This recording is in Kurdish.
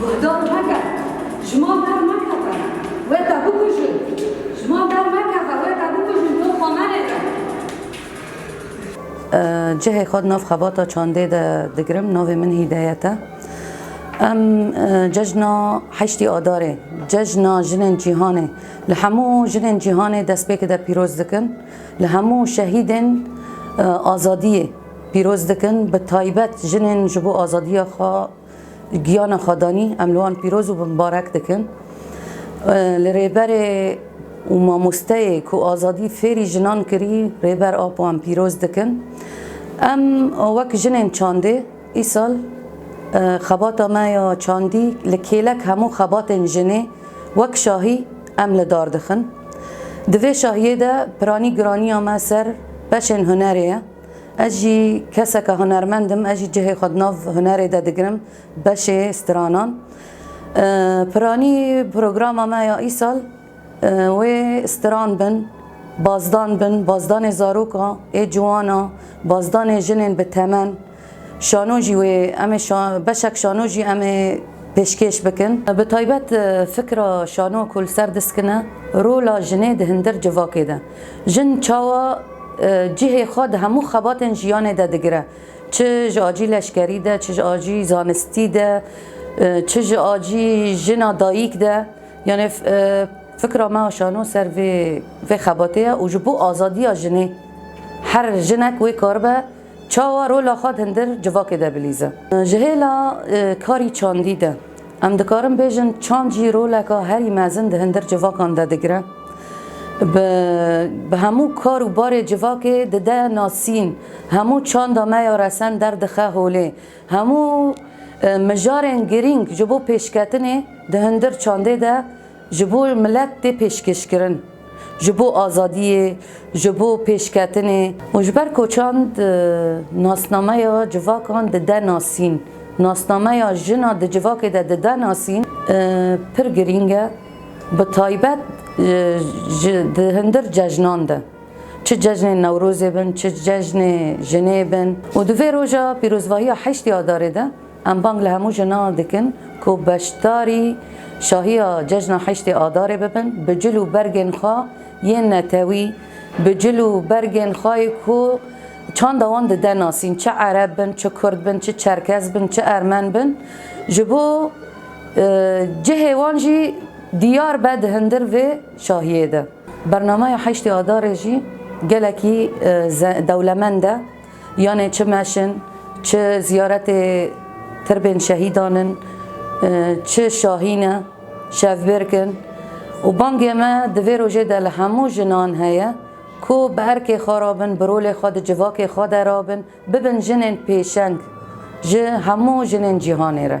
Guhdar meke, ji man dermekeve, wê te bikujin, ji man dermekeve, wê te bikujin, to xwe menêre. Cihê xwe di nav xebata çandê de digirim, navê min Hîdayet e. Em cejna heştî Adarê, cejna jinên cîhanê li hemû jinên cîhanê destpêkê de pîroz dikin, li hemû şehîdên azadiyê pîroz dikin, bi taybet jinên ji bo azadiya xwe Giyana Xwedanî em li wan pîroz û bimbarek dikin. Li rêberê û mamosteyê ku azadî fêrî jinan kirî Rêber Apo em pîroz dikin. Em wek jinên çandê îsal xebata me ya çandî li kêlek hemû xebatên jinê wek şahî em li dar dixin. Di vê şahiyê de piranî giraniya me ser beşên hunerê ye. Ez jî keseke hunermend im, ez jî cihê xwe di nav hunerê de digirim, beşê stranan. Piranî programa me ya îsal wê stran bin, bazdan bin, bazdanê zarokan ê ciwan a, bazdanê jinên bi temen, şano jî wê em ê beşek şano jî em ê pêşkêş bikin. Bi taybet fikra şano ku li ser diskine rola jinê di hindir civakê de. Jin çawa cihê xwe di hemû xebatên jiyanê de digire, çi ji acî leşkerî de, çi ji acî zanistî de, çi ji acî jina dayîk de. Yanê fikra me a şano ser vê xebatê ye û ji bo azadiya jinê her jinek wê karibe, Çawa rola xwe hindir civakê de bilîze. Ji hêla karî çandî de em dikarin bêjin çand jî roleka herî mezin di hindir civakan de digire. Bi bi hemû kar û barê civakê dide nasîn, hemû çanda me ya resen derdixe holê, hemû mijarên girîng ji bo pêşketinê di hindir çandê de Ji bo milet tê pêşkêşkirin, ji bo azadiyê, ji bo pêşketinê. Û ji ber ku çand nasnameya civakan dide nasîn, nasnameya jina di civakê de dide nasîn pir girîng e, bi taybet ji di hundir cejnan de. Çi cejnên Newrozê bin, çi cejnê jinê bin. Û di vê roja pîrozvahiya heştê Adarê de Em bang li hemû jinan dikin ku beşdarî şahiya Cejna Heştê Adarê bibin, bi cil û bergên xwe yên netewî, bi cil û bergên xwe yê ku çanda wan dide nasîn, çi ereb bin, çi kurd bin, çi çerkez bin, çi ermen bin, ji bo cihê wan jî diyar be di hindir vê şahiyê de. Bernameya Heştê Adarê jî gelekî dewlemend e. Yanê çi meş in, çi ziyaretê tirbên şehîdan in, çi şahîn e, şevbirk in û bangê me di vê rojê de li hemû jinan heye ku bi erkê xwe re bin, bi rolê xwe di civakê xwe de re bin, bibin jinên pêşeng ji hemû jinên cîhanê re.